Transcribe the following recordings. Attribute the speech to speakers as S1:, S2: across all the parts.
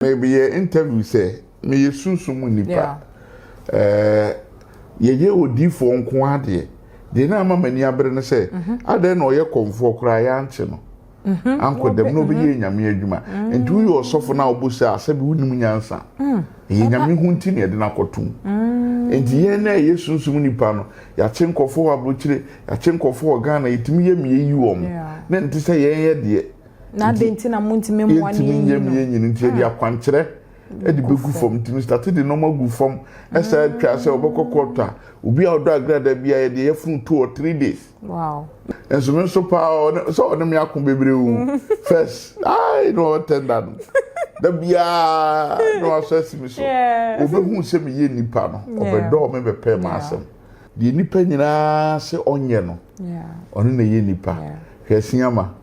S1: Meyɛ interview sɛ meyɛ sunsum mu nipa ɛɛ yɛyɛ odiifoɔ nko ara deɛ deɛ na ama m'ani abere no sɛ mhm. adɛn na ɔyɛ kɔmfoɔ koraa yɛankye no mhm. ankɔ dɛm na ɔbɛyɛ mhm. nyame adwuma nti woyɛ ɔsɔfo no a wobɔ sɛ asɛ bi wonim nyansa mm. ɛyɛ nyame ho nti na yɛde no akɔtom mm. nti yɛn na ɛyɛ sunsum nipa no yɛakye nkɔfoɔ wɔ aburokyire yɛakye nkɔfoɔ wɔ ghana yɛtumi yɛ mmiɛyi wɔ mo na ɛnte sɛ yɛn yɛ deɛ na adɛn nti na
S2: montumi mmoa ne yɛntumi nyɛ meyɛ nyini nti yɛde
S1: ah. akwankyerɛ ɛde bɛgu fam nti mr tate de nɔɔma gu fam ɛsɛ atwa sɛ ɔbɛkɔ kɔɔtɔ a obi a ɔdɔ agrada bi a yɛde yɛfunu two or three days ɛnso
S2: me nso
S1: paa sɛ ɔne me ako bebree o first ai na ɔtɛnda no da biara na wasɔ asi me so ɔbɛhu sɛ meyɛ nnipa no ɔbɛdɔɔ me bɛpɛ ma asɛm deɛ nnipa nyinaa sɛ ɔnyɛ no ɔno na ɛyɛ nnipa hwɛ asiama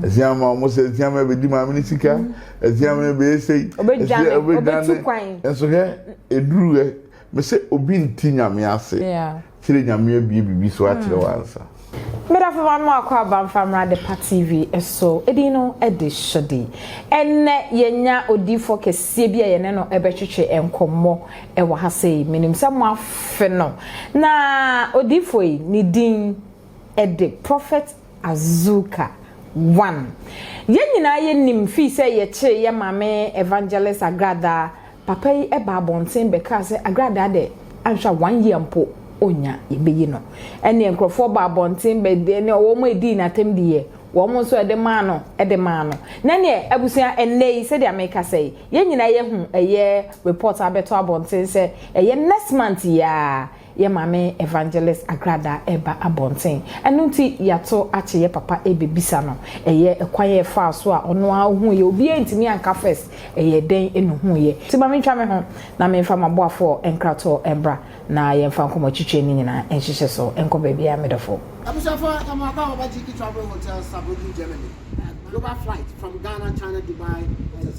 S1: ɛsia ma wɔn sɛ ɛsia ma ɛbɛdi maame ne sika ɛsia ma ɛbɛyɛ sɛ ɛsia ɛbɛdwane
S2: nso hwɛ
S1: ɛduru ɛ me sɛ obi nti nyame ase kyerɛ nyame abie biribi so akyerɛ mm. wansa medafo ma
S2: mo akɔ abamfa mmra de pa tv so ɛdin no de hyɛde ɛnɛ yɛnya odiifoɔ kɛseɛ bi a yɛne no ɛbɛtwetwe nkɔmmɔ ɛwɔ ha sei menim sɛ mo afe no na odiifoɔ yi ne din ɛde prophet Azuka, One. Yɛn nyinaa yɛ nim fii sɛ yɛ kyee yɛ maame Evangelist Agradaa, papa yi baa abɔnten bɛ kaa sɛ Agradaa dɛ anhwɛ a one year mpo onnya yɛ bɛ yi no. Ɛneɛ nkorɔfoɔ baa abɔnten bɛ ne wɔn ɛdii no atɛm diiɛ, wɔn nso ɛde maa no ɛde maa no. Na ɛneɛ abusua ɛnnɛ yi sɛdeɛ me kasa yi, yɛn nyinaa yɛ hu ɛyɛ report abɛto abɔnten sɛ ɛyɛ next month yi aa, Yɛ Maame Evangelist Agrada reba abɔnten. Ɛno nti yɛato akye yɛ papa rebɛbisa no. Ɛyɛ kwan a ɛfaa so a ɔno ara ɔhuiɛ. Obiara antumi anka first ɛyɛɛ dɛn na ɔhuiɛ. Nti ma mentwa me ho na memfa m'aboafoɔ nkratoɔ mmra na yɛmfa nkɔmmɔtwitweɛ no nyinaa nhyehyɛ so. Nkɔ baabiara me dɔfo. Abusuafo yɛn mo
S3: akɔ Baba Gyiki Travel Hotel Saarbrücken Germany. Global flight from Ghana, China, Dubai.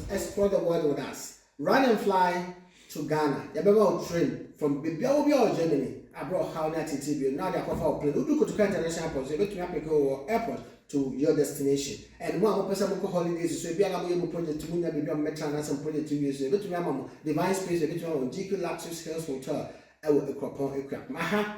S3: Explore the world with us. Run and fly to Ghana, yɛbɛma wo train from baabiara wɔ biara wɔ Germany a berɛ a ɔhaw ne ateetee bio no na wɔde akɔfa wo plane. Wodu Kotoka International Airport nso yɛbɛtumi apeke wo wɔ airport to your destination. And mo a mopɛ sɛ mokɔ holidays nso, ebia na moyɛ mo project mu nnya baabi a mommɛtena anaasɛ mo project wie nso a, yɛbɛtumi ama mo Divine Space, yɛbɛtumi ama mo GQ Luxuries Hills Hotel wɔ Ekuapɔn, Ekuapem. Aha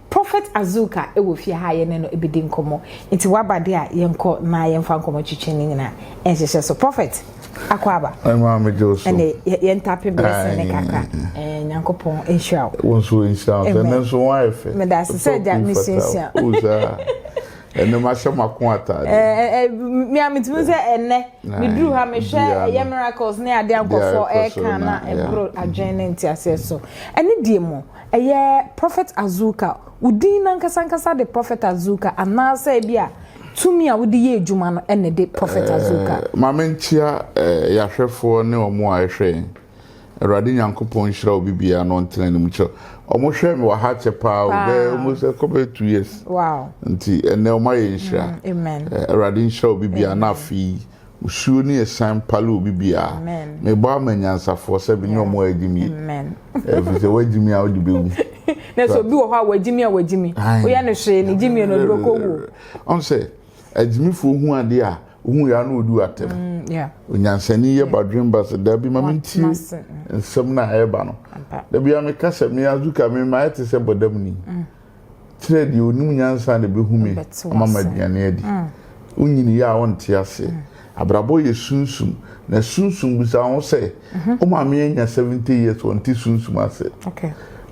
S2: Prophet Azuka wɔ fie ha a yɛne no bɛdi nkɔmmɔ. Nti waba deɛ a, yɛnkɔ na yɛmfa nkɔmmɔ twitwi ne nyinaa nhyehyɛ so. Prophet, Akwaaba. Ɛmaa me dwo so.
S1: Ɛne yɛntape
S2: blessing ne kakra. Ɛɛ Nyankopɔn nhyira wo. Wo nso nhyira wo.
S1: Ɛnɛ nso wɔn ayɛ fɛ. Meda ase sɛ agya
S2: mesuasua. O saa.
S1: Ɛnɛ mahyɛ mako ataade. Ɛɛ me a
S2: metumi sɛ ɛnɛ meduru ha mehwɛ ɛyɛ miracles ne adeɛ nkɔfoɔ ɛka na ɛboro adwene ne nteaseɛ so. Ɛne deɛ mu. Ɛyɛ Prophet Azuka. Wo din no ankasa ankasa de Prophet Azuka anaasɛ ebi a tumi a wode yɛ adwuma no na ɛde Prophet Azuka? Eh, ma menkyia
S1: eh, yɛahwɛfoɔ ne wɔn a ɛhwɛ yɛn. Awurade Nyankopɔn nhyira obi biara na ɔntena anim kyerɛ. Wɔn hwɛ me wɔ ha kyɛ paa o, bɛyɛ wɔn sɛ kɔbɛyɛ two years. Wow. Nti
S2: ɛnɛ wɔn
S1: ayɛ nhyira. Mm, amen. Eh, Awurade
S2: nhyira obi
S1: biara na afei Osuo ne ɛsiane pale obi biara. Mebɔ ama anyansafoɔ sɛ menye wɔn agyimie. Ɛfiri
S2: sɛ woagyimi
S1: a wode bɛwu. Na sɛ obi wɔ
S2: hɔ a wagyimi a wagyimi. Woyɛ no hwee ne gyimie no ɔde bɛkɔ wuo. Ɔn sɛ
S1: agyimifoɔ hu adeɛ a wohu yɛ a na wɔdi atɛm. Mm, Onyansani
S2: yɛ
S1: badwen ba sɛ dabi ma mentie nsɛm no a ɛreba no. Da biara meka sɛ me Azuka me mayɛ te sɛ bɔdamni. Mm. kyerɛ deɛ ɔnim nyansa na ɛbɛhu me ama ma aduane adi. Wonyini yɛ a wonte ase. Abrabɔ yɛ sunsum. Na sunsum bisa ho sɛ, wo maame anya 70 years ɔnte sunsum ase.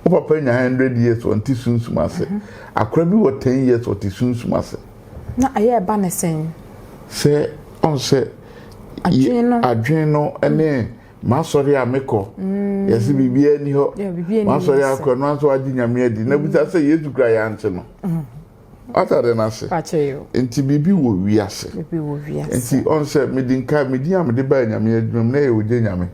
S1: Wo
S2: papa anya
S1: 100 years ɔnte sunsum ase. Akora bi wɔ 10 years ɔte sunsum ase. Na ɛyɛ ɛba
S2: ne sɛn? Sɛ
S1: ɔn sɛ adwene no ne masɔre a mekɔ mm. yɛse biribiaa ni hɔ masɔre akɔ no anso agye nyame adi na bisa sɛ yesu kora yɛante no mm. atade no ase nti biribi wɔ wiase nti ɔn sɛ mede nka medin a mede baa nyame adwuma mu na ɛyɛ ogye nyame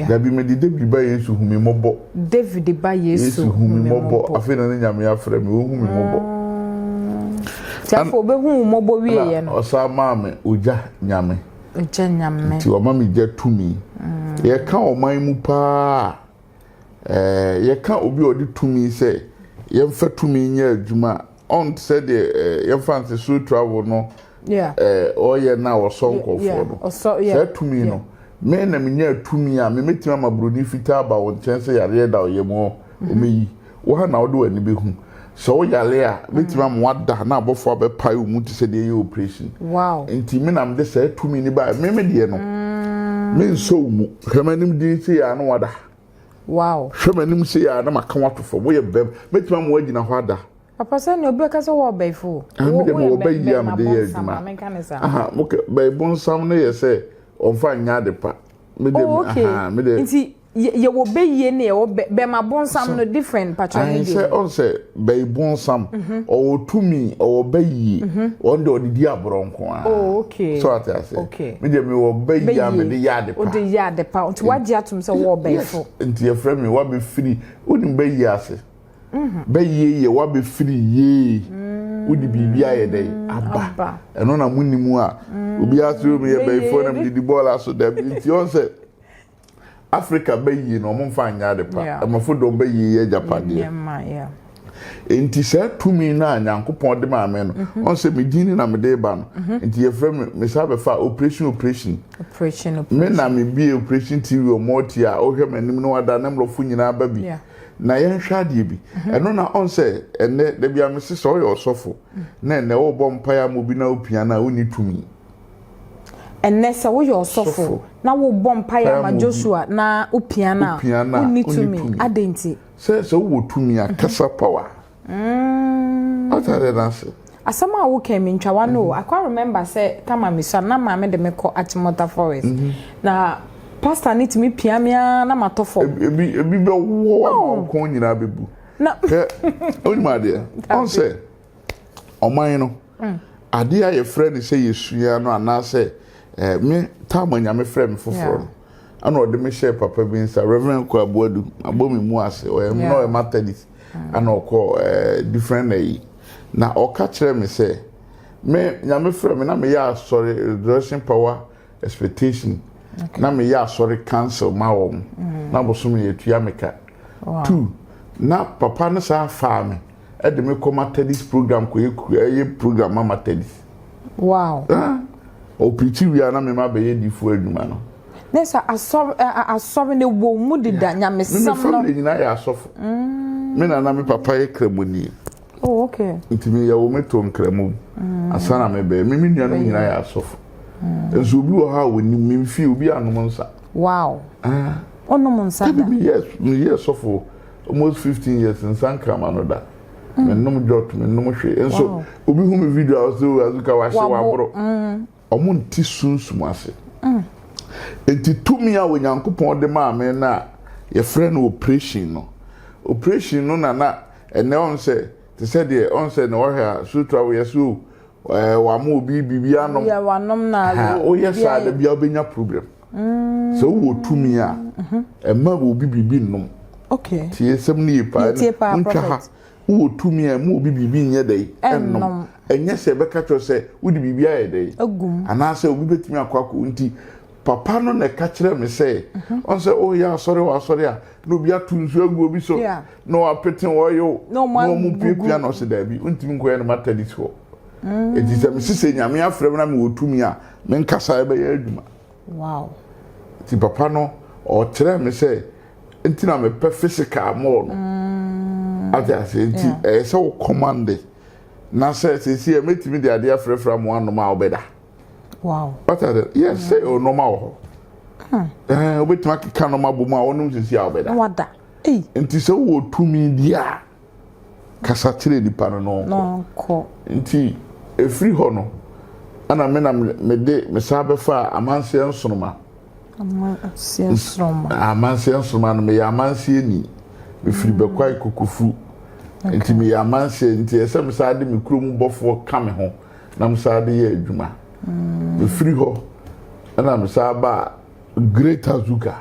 S1: dabi mede david ba yesu hu me mmɔbɔ david ba yesu hu
S2: me
S1: mmɔbɔ afei na ne nyame afrɛ
S2: me
S1: wɔhu me mmɔbɔ ah. nti afei
S2: wɔbɛhu mmɔbɔ wieɛ no ɔsaa maa me ogya
S1: nyame Gya nyame. Nti wɔma me
S2: gya
S1: tumi. Yɛka ɔman mu paa a, ɛɛ yɛka obi a ɔde tumi sɛ yɛmfa tumi nyɛ adwuma a, ɔnte sɛ deɛ ɛɛ yɛmfa nse so travel no ɛɛ ɔyɛ no a wɔsɔ nkurɔfoɔ no. Saa tumi no, me na menya tumi a, memɛtumi ama buroni fitaa aba wo nkyɛn sɛ yareɛ da ɔyam hɔ. Ɔmɛ yi, wo ha na wode w'ani bɛhu. Sɛ woyare a, mɛtumi ama woada na abɔfoɔ abɛpae wo mu te sɛ deɛ ɛyɛ oprehyini. Enti me na
S2: mede saa
S1: tumi no baeɛ. Me, me deɛ no, mensɔ wo mu. Hwɛ m'anim dinn sei ara na woada.
S2: Hwɛ m'anim sei ara
S1: na maka wo ato fam. Woyɛ bɛm. Mɛtumi ama woagyina hɔ ada. Papa sɛ nea obi bɛka
S2: sɛ wowɔ ɔbɛifo o. Ah, me deɛ mewɔ ɔbɛ yi
S1: a mede yɛ adwuma. Aha, mokɛ, bɛibonsam no yɛ sɛ ɔmfa nyɛ ade pa. Me deɛ, oh, aha, me deɛ.
S2: yɛwɔ bɛyie ne yɛwɔ bɛma bonsam no different patwa ne deɛ sɛ ɔn sɛ
S1: bɛyi bonsam mhm. ɔwɔ tumi ɔwɔ bɛyie mhm. ɔn deɛ ɔde di aborɔ nko a oh, okay so ate
S2: ase okay
S1: me deɛ mewɔ bɛyie a mede yɛ ade pa ɔde yɛ ade pa
S2: nti wagye atom sɛ wɔwɔ bɛyifo nti yɛfrɛ me
S1: wabɛfiri wonim bɛyie ase mhm. bɛyie yɛ wabɛfiri yie mm. wode biribi ayɛ dɛ aba ɛno na mu nnim a mm. obiara sɛ omi yɛ bɛyifoɔ na mede di bɔɔla so dabi nti ɔn sɛ Afrika bayie no wɔn mfa nyɛ ade pa. Ɛmafo dɔm bayie yɛ agyapadeɛ. Enti saa tumi no a Nyankopɔn de maa me no, mhm. wɔn sɛ me din ne na mede ba no. Mhm. Enti yɛfrɛ me me saa bɛfa operation operation. Me na me bie operation TV wɔn ɔte a ɔhwɛ m'anim no ada ne mmorɔfo nyinaa ba bi. Yeah. na yɛnhwɛ adeɛ bi mhm. ɛno na ɔn sɛ ɛnɛ dabi amese sɛ ɔyɛ ɔsɔfo mhm. na ɛnɛ ɔbɔ mpaeɛ ama obi na opia no a wonni tumi
S2: Ɛnnɛ, sɛ woyɛ ɔsɔfo na wobɔ mpae ma Joshua na opia no a, wunni tumi. Adɛn nti? Sɛ sɛ wowɔ
S1: tumi a, kasa power. Wate adeɛ no ase? Asɛm a woka yi,
S2: mentwa w'ano o. Akwa remember sɛ Tama misua no, na maame de me kɔ Achimota Forest. Na pastor no tumi pia me ara na matɔ fam. Ebi ebi bɛwɔ
S1: hɔ ama wo kɔn nyinaa bɛbu. Hwɛ, wonim adeɛ? Ɔn sɛ ɔman no. Adeɛ a yɛfrɛ no sɛ yɛsua no anaasɛ eh, me tam a nyame frɛ me foforɔ no ɛna ɔde me hyɛɛ papa bi nsa Reverend Kwabuadu abɔ me mu ase ɔyɛ na ɔyɛ Methodist ɛna ɔkɔ eh, different na yi na ɔka kyerɛ me sɛ me nyame frɛ me na meyɛ asɔre resurrection power expectation na meyɛ asɔre council ma wɔn na bosome yɛtua me ka two na papa no saa faa me ɛde me kɔ matadis program kɔ ɛyɛ program ma matadis
S2: wow
S1: ɔpirikyi wia na mema bɛyɛ difo adwuma no ne sɛ asɔre
S2: asɔre ne wɔ mu deda nyamesɛm no me family nyinaa yɛ asɔfo
S1: mm. me nana me papa yɛ kramoni Oh, okay.
S2: Nti mi yɛ wo me
S1: to nkramu. Mm. Asa na me bɛyɛ. Me me nuanom nyinaa yɛ asɔfo. Mm. Nso obi wɔ hɔ a wɔnim me mfie obi anom nsa. Wow. Ah.
S2: Ɔnom nsa da. Ebi mi yɛ mi yɛ sɔfo
S1: almost fifteen years nsa nkrama no da. Mm. Me nom jɔt me nom hwee. Nso obi hu mi video a ɔsɛ o oh, azuka wahye waboro. Mm. Wɔnte sunsum ase. Enti tumi a Onyankopɔn de maa me no a wɔfrɛ no oprehyɛn no, oprehyɛn no na na ɛnnɛ wɔn sɛ te sɛ deɛ wɔn sɛ na wɔhwɛ a suutu a woyɛ sɛ o ɛɛ wɔama obi biribi anom. Woyɛ wanom na awe
S2: o. Woyɛ saa da biara
S1: wobɛnya problem. Sɛ wowɔ tumi a ɛma obi biribi nnom. Okay. Tie
S2: sɛm no yie
S1: paa. Yɛtie paa prophet. Montwa ha Wowɔ tumi a ɛma obi biribi nyɛ dɛn? Nnom. Ɛnyɛ sɛ ɛbɛka akyerɛ wo sɛ wode biribi ayɛ dɛn? Agu mu. Anaasɛ obi
S2: bɛtumi
S1: akɔ akɔ wo nti. Papa no na ɛka kyerɛɛ me sɛ, ɔn sɛ woreyɛ asɔre wɔ asɔre a, na obi ato nsuo agu obi so, na wɔapete oil, na wɔrepiapia no. Ɔse, Daabi, wontumi nkɔyɛ no Methodist hɔ. Enti sɛ mese sɛ Nyame afrɛ me na mewɔ tumi a, menkasa a ɛbɛyɛ adwuma. Wow.
S2: Nti
S1: papa no ɔkyerɛ me sɛ nti na mepɛ physical more no. Mm. Ate ase nti ɛyɛ sɛ wo command na sɛ sɛsi ɛ mɛtumi de adeɛ afrɛfrɛ amu anom a wobɛda. Wow.
S2: What are the yes
S1: sɛ mm. ɔnom a wɔ hɔ. Hmm. Ɛɛ wobɛtumi akeka nom abɔ mu a wɔnom sɛsi a wobɛda. Wada.
S2: Nti sɛ
S1: wowɔ tumi bi a. kasa kyerɛɛ nnipa no na ɔnkɔ. Nti ɛfiri hɔ no, ɛna me na mede me san bɛfaa amanseɛ nsoroma. Amanseɛ nsoroma. Amanseɛ nsoroma no meyɛ amanseɛ ni. Mefiri Bɛkwae Kokofu. Nti meyɛ amanseɛ nti ɛsɛ sɛ mesan de me kurom bɔfoɔ ka me ho na mesan de yɛ adwuma. Mefiri hɔ ɛna mesan baa. Greater Zuka.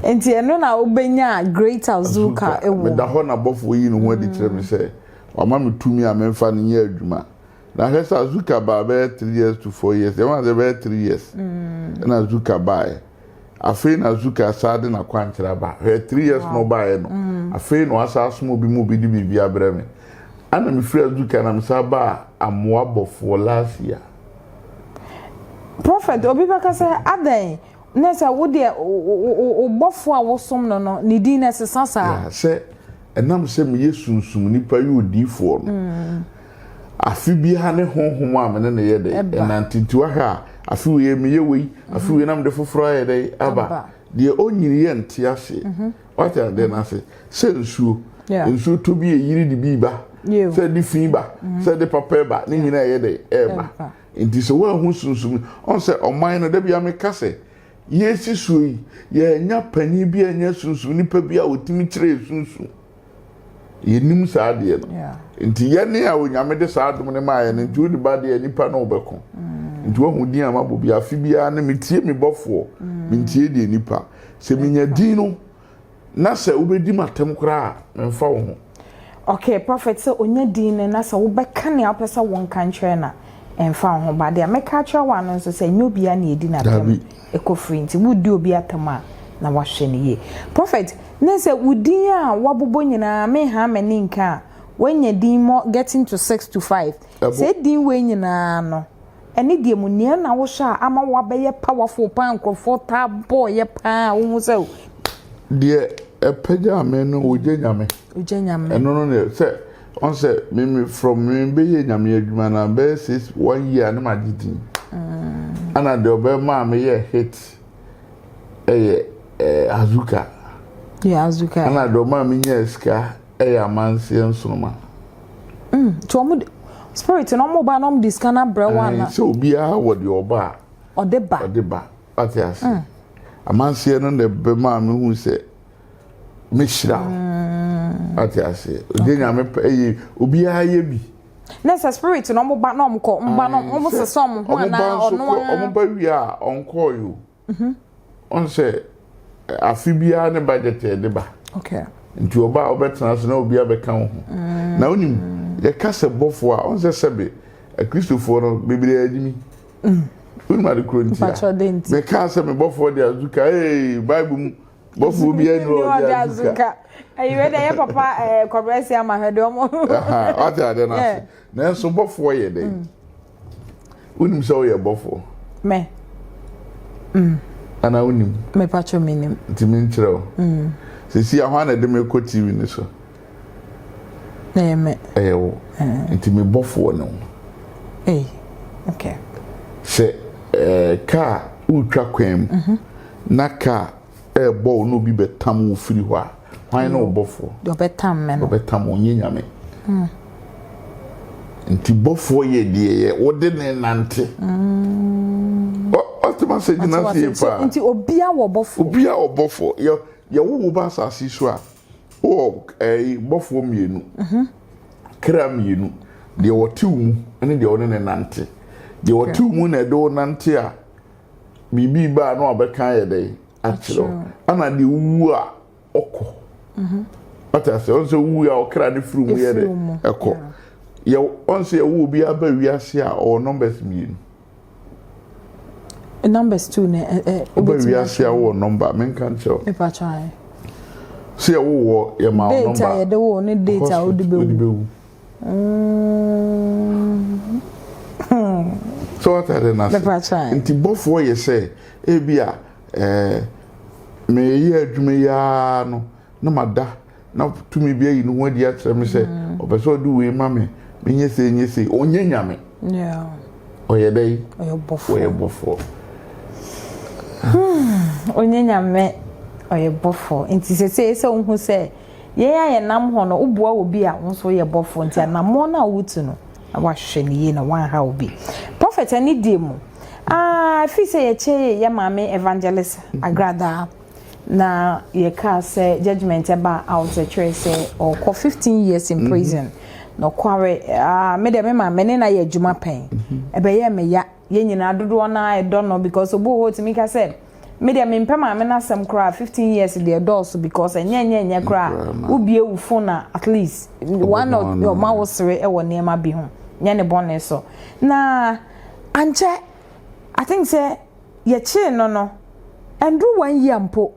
S1: Nti ɛno na wobɛnya Greater Zuka wɔ. Meda
S2: hɔ
S1: na bɔfoɔ
S2: yi
S1: ne ho adi
S2: kyerɛ
S1: me sɛ wama me tumi a memfa no nyɛ adwuma. Na hwɛ sɛ Azuka baa bɛyɛ three years to four years. Yɛn ase bɛyɛ three years. Mm. Na Azuka baaɛ. Afei na Azuka saa de n'akwankyerɛ aba. Hwɛ three years na ɔbaaɛ no. Mm. Afei na wasa asom obi mu obi de biribi abrɛ me. Ana mefiri Azuka na mesa baa amoa bɔfoɔ last year. Prɔfɛt,
S2: obi bɛka sɛ, Adɛn? Na sɛ wo deɛ, wo bɔfoɔ a wosom no no, ne din na ɛsesa saa? Sɛ
S1: ɛnam sɛ meyɛ sunsum nnipa yɛ odiyifoɔ no, afe biara ne honhom a me ne no yɛ dɛn? Ɛnante. Nti woahwɛ a, afe wei meyɛ wei, afe wei na mede foforɔ ayɛ dɛn? Aba. Deɛ ɔnnyiniiɛ nte aseɛ. wate adeɛ no ase sɛ nsuo nsuo tɔ bi ɛyiri de bi ba sɛ de fi ba mm. sɛ de papa ba ne nyina ɛyɛ dɛ ɛba nti sɛ woahu sunsum ɔn sɛ ɔman no da bia meka sɛ yɛsi suo yi yɛanya panin bi anya sunsum nipa bi a ɔtumi kyerɛ sunsum yɛnim saa adeɛ no nti yɛne a onyame de saa adom no maa yɛn nti wode ba deɛ nipa na wobɛko mm. nti wahu din a mabɔ bi afe biara no metie me bɔfoɔ mm. mentie deɛ nipa sɛ menya din no na sɛ wobɛdi m atɛm koraa memfa wo ho okay prophet
S2: sɛ onya din no na sɛ wobɛka nea wopɛ sɛ wonka nkyerɛ na ɛmfa wo ho ba deɛ mɛka akyerɛ wo ano nso sɛ nyɛ obia ne ɛdi natɛm ɛkɔfiri nti wodi obi atam a na wahwɛ no yie prophet na sɛ wo din a wabobɔ nyinaa me ha m'ani nka a wanya din mɔ getting to six to five sɛ din wei nyinaa no ɛne deɛ mu nea na wohwɛ a ama wabɛyɛ powerful paa nkurɔfoɔ taa bɔɔyɛ paa a wohu sɛ deɛ
S1: ɛpɛgya me no wogya nyame wogya nyame ɛno no sɛ Ɔn sɛ me me from me bɛ yɛ nyame adwuma no a bɛyɛ six one year ne ma gye din ɛna deɛ ɔbɛ maa me yɛ hit ɛyɛ ɛɛ azuka yɛ azuka
S2: ɛna deɛ ɔmaa me
S1: nyɛ sika ɛyɛ amanseɛ nsoroma mm
S2: tí wɔn de spirit na wɔn ba na wɔn de sika na brɛ wɔn ana sɛ obiara wɔ deɛ
S1: ɔba a ɔde ba ɔde ba ɔte ase mm. amanseɛ no na ɛbɛ maa me hu sɛ mehyira wo mm. ate aseɛ ɔde nyame pɛ ɛyɛ obiara yɛ bi na sɛ spirit
S2: na ɔmo ba na ɔmo kɔ ɔmo ba na ɔmo sesa ɔmo ho anaa ɔno ara ɔmo ba wie a
S1: ɔnkɔɔ yi o mhm. ɔn sɛ afe biara ne budget yɛ de ba nti
S2: ɔba a
S1: ɔbɛtena ase na obi abɛka wo ho mm. na wonim yɛka sɛ bɔfoɔ a ɔn sɛ sɛbe akristofoɔ no bebree adi mi mm. wonim ade koro nti a mɛka sɛ mebɔfoɔ de azuka ee bible mu bɔfo bi ɛni wɔ ɔdi azuka ayi wɛ dɛ yɛ
S2: papa ɛɛ eh, kɔbrɛ si ama hɛ dɛ ɔmo. ɔte ade na
S1: ase nanso bɔfo yɛ dɛ mm. wonim sɛ ɔyɛ bɔfo. mɛ.
S2: Mm.
S1: ana wonim. mɛ patro mi nim.
S2: ntumi nkyerɛ o.
S1: Mm. sisi ahwa na ɛde mi kɔ tv ni so.
S2: Ɛyɛ me. Ɛyɛ wo.
S1: Nti me bɔfoɔ ne wo. Ei,
S2: okay. Sɛ
S1: ɛɛ kaa wotwa kwan mu mhm. na kaa ɛɛbɔ wo na obi bɛtam wo firi hɔ a, hwan ne wo bɔfoɔ? Deɛ ɔbɛtam me no.
S2: Ɔbɛtam wo, nyɛ nyame.
S1: Mm. Nti bɔfoɔ yɛ deɛ yɛ wode ne nante. Mm. Ɔte ma sɛ gyina sie paa. Nti obia wɔ
S2: bɔfoɔ. Obia wɔ bɔfoɔ.
S1: Yɛ yɛwo wo ba asase so a, Wowɔ ɛyi bɔfoɔ mmienu, kra mmienu, deɛ wɔte wo mu ne deɛ wɔne ne nante. Deɛ wɔte wo mu na ɛde wo nante a, biribi baa na wabɛka ayɛ dɛn akyerɛ wo. Ɛna deɛ wowu a ɔkɔ. Mhm. Wate aseɛ, ɔn sɛ wowu a ɔkra ne firi mu yɛ dɛ ɛkɔ. Yɛ ɔn sɛ yɛwɔ obi aba wiase a ɔwɔ numbers mmienu.
S2: numbers two na ɛ ɛ. wobɛ wiase
S1: a wowɔ nɔmba menka nkyɛw. mepa kyɛw ayɛ.
S2: sɛ yɛ
S1: wowɔ yɛ ma wo nɔmba. date a yɛde wo ne date
S2: a wode bɛ wu.
S1: sɛ wata de na se nti bɔfoɔ yɛ sɛ ebi a ɛɛ meyɛ adwuma yi ara no na ma da na tumi bi ayi ne ho adi akyerɛ me sɛ mm. ɔpɛ sɛ ɔde wei ma me menyɛ sei nyɛ sei ɔnyɛ nyame ɔyɛ dɛn ɔyɛ bɔfoɔ hmm,
S2: ɔnyɛ nyame ɔyɛ bɔfoɔ nti sɛsei sɛ wohu sɛ yɛn a yɛnam hɔ no woboa wɔ bi a wo nso woyɛ bɔfoɔ nti anammɔn no a wotu no na wahwɛ no yie na wanha wo bi prɔfɛt ani die mu ah, fii sɛ yɛkyɛ yɛ maame evangelist agradaa na yɛkaa sɛ judgement ɛba out ɛkyerɛ sɛ ɔkɔ 15 years in mhm. prison mm -hmm. nokware uh, me deɛ me ma me ne na yɛ adwuma pɛn ɛbɛyɛ me ya yɛn nyinaa dodoɔ no a ɛdɔ no because obi wɔ hɔ tumi ka sɛ me deɛ me mpɛ maame no asɛm koraa 15 years deɛ dɔɔso because ɛnyɛ nyɛ nyɛ koraa wobie wo phone na at least one of your ma wo sere ɛwɔ nneɛma bi ho nyɛ ne bɔne so na ankyɛ i think sɛ yɛkyee no no, ɛnduru one year mpo,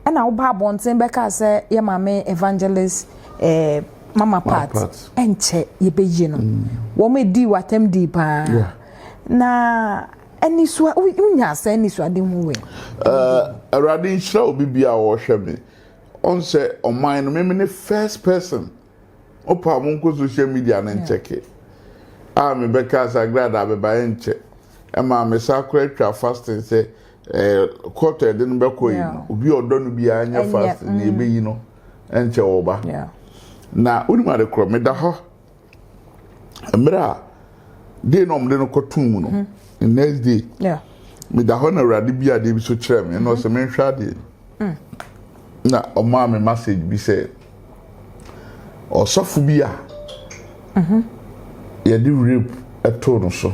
S2: ɛna woba abɔnten bɛkaa sɛ yɛ maame evangelist eh, mama part ɛnkyɛ yɛbɛyi no mm. wɔn ɛdii w'atam dii paa na anisua wonya sɛ anisuade ho wɛ awurade
S1: nhyira obi bia a wɔhwɛ me ɔn sɛ ɔman no meme ne first person Opa mo nkɔ social media no nkyɛke a me bɛka asagrada abɛba ɛnkyɛ ɛma me sa kora twa fasting sɛ eh, court ɛde no bɛkɔ yi no obi ɔdɔ no biara nyɛ fasting na ɛbɛyi mm. no ɛnkyɛ wɔ ba na wonim ade korɔ meda hɔ mmerɛ a dei na ɔmde no kɔtom mu no mhm. the next day meda hɔ na awurade bi adeɛ bi so kyerɛ me ɛna ɔsɛ menhwɛ adeɛ mm. na ɔmaa me message bi sɛ Ɔsɔfo bi a yɛde rape too no so.